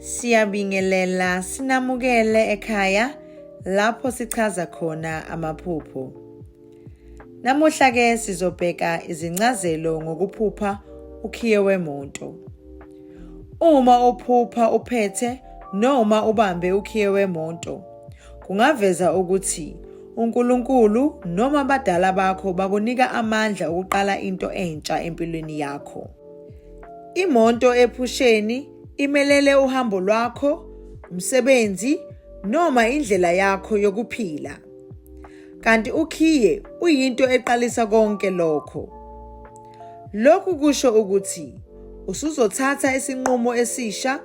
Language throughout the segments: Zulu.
Siyabingelela sinamukele ekhaya lapho sichaza khona amaphupho. Namuhla ke sizobheka izincazelo ngokuphupha ukhiye wemoto. Uma uphupha uphethe noma ubambe ukhiye wemoto kungaveza ukuthi uNkulunkulu noma abadala bakho bakunika amandla okuqala into entsha empilweni yakho. Imoto ephusheni imelele uhambo lwakho, umsebenzi noma indlela yakho yokuphila. Kanti ukhiye uyinto eqalisa konke lokho. Lokhu kusho ukuthi usuzothatha isinqumo esisha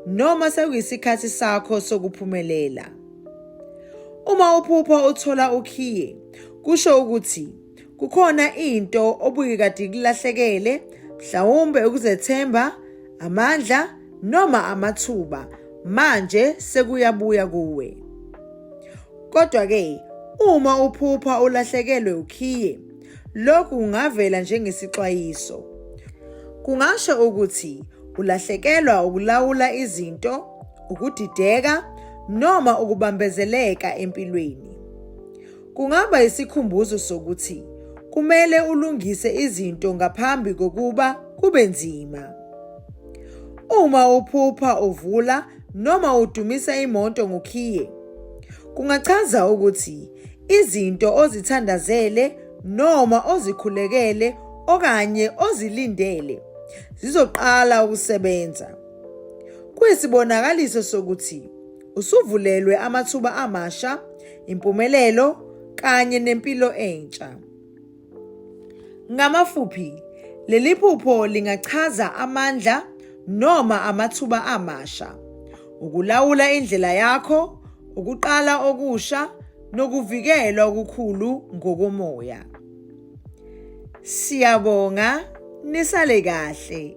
noma sekuyisikhathi sakho sokuphumelela. Uma uphupha uthola ukhiye, kusho ukuthi Kukhona into obuke kade ikulahlekele, mhlawumbe ukuzethemba, amandla noma amathuba. Manje sekuyabuya kuwe. Kodwa ke uma uphupha ulahlekelwe ukhiye, lokhu kungavela njengesixwayiso. Kungasho ukuthi ulahlekelwa ukulawula izinto, ukudideka noma ukubambezeleka empilweni. Kungaba isikhumbuzo sokuthi kumele ulungise izinto ngaphambi kokuba kube nzima. Uma uphupha uvula noma udumisa imoto ngokhiye, kungachaza ukuthi izinto ozithandazele noma ozikhulekele okanye ozilindele zizoqala ukusebenza. Kuyisibonakaliso sokuthi Usuvulelwe amathuba amasha, impumelelo kanye nempilo entsha. Ngamafuphi, leli phupho lingachaza amandla noma amathuba amasha, ukulawula indlela yakho, ukuqala okusha nokuvikelwa okukhulu ngokomoya. Siyabonga nisale kahle.